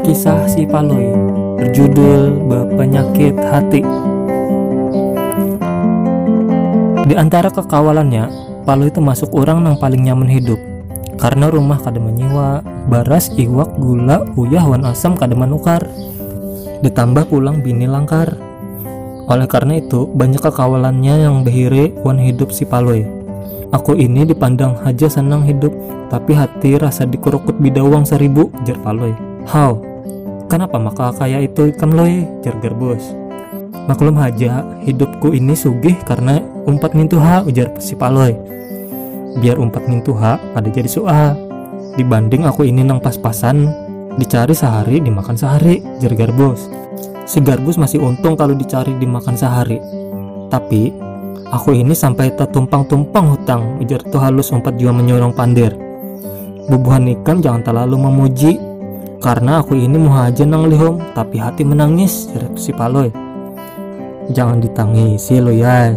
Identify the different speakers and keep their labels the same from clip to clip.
Speaker 1: Kisah si Palui berjudul Berpenyakit Hati. Di antara kekawalannya, Palui termasuk orang yang paling nyaman hidup karena rumah kada menyiwa, baras, iwak, gula, uyah, wan asam kada menukar. Ditambah pulang bini langkar. Oleh karena itu, banyak kekawalannya yang behiri wan hidup si Palui. Aku ini dipandang haja sanang hidup, tapi hati rasa dikurukut bidawang saribu, jar Palui. Haw, kanapa maka kaya itu ikam Lui? jar Garbus. Maklum haja, hidupku ini sugih karena umpat nintu ha, ujar si Palui. biar umpat mintuha kada jadi suah dibanding aku ini nang pas-pasan dicari sehari dimakan sehari jer garbus si garbus masih untung kalu dicari dimakan sehari tapi aku ini sampai tatumpang-tumpang hutang ujar tu halus umpat jua menyurung pander bubuhan ikam jangan terlalu memuji karena aku ini muha aja nang lihum tapi hati menangis jerat si paloi jangan ditangisi loyai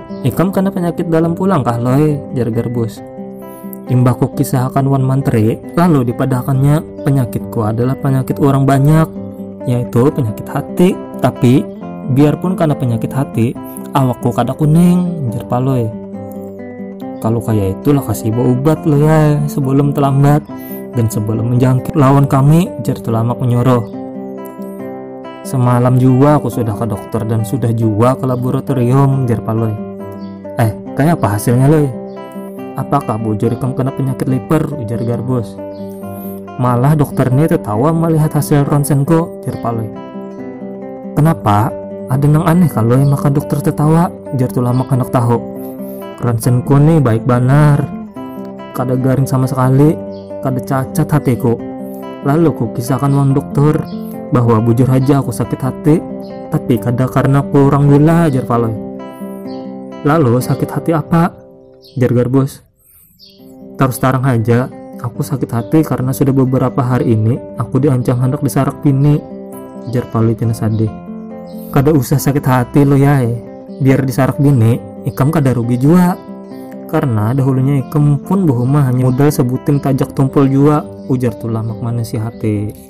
Speaker 1: Ikam kena penyakit dalam pulang kah loe? jar Garbus. Imbah ku kisahkan wan mantri, lalu dipadahakannya penyakitku adalah penyakit orang banyak, yaitu penyakit hati. Tapi biarpun kena penyakit hati, awakku kada kuning, jar Palui. Kalau kaya itulah kasih ubat lo ya sebelum terlambat dan sebelum menjangkit lawan kami, jar Tulamak menyuruh. Semalam jua aku sudah ke dokter dan sudah jua ke laboratorium, jar Palui. Eh, kayak apa hasilnya, Lui? Apakah bujur ikam kena penyakit liver, ujar Garbus. Malah dokter ini tertawa melihat hasil ronsenku, jar Palui. Kenapa? Ada yang aneh kalau maka dokter tertawa, jar Tulamak anak tahu. Ronsenku nih baik banar, Kada garing sama sekali, kada cacat hatiku. Lalu ku kisahkan wan dokter bahwa bujur haja aku sakit hati, tapi kada karena kurang gula, jar Palui. Lalu sakit hati apa? jar Garbus. Tarus tarang haja, aku sakit hati karena sudah beberapa hari ini aku diancam hendak disarak bini, jar Palui pina sadih. Kada usah sakit hati Luyai, Biar disarak bini, ikam kada rugi jua. Karena dahulunya ikam pun bahuma hanya modal sabuting tajak tumpul jua, ujar Tulamak manasihati.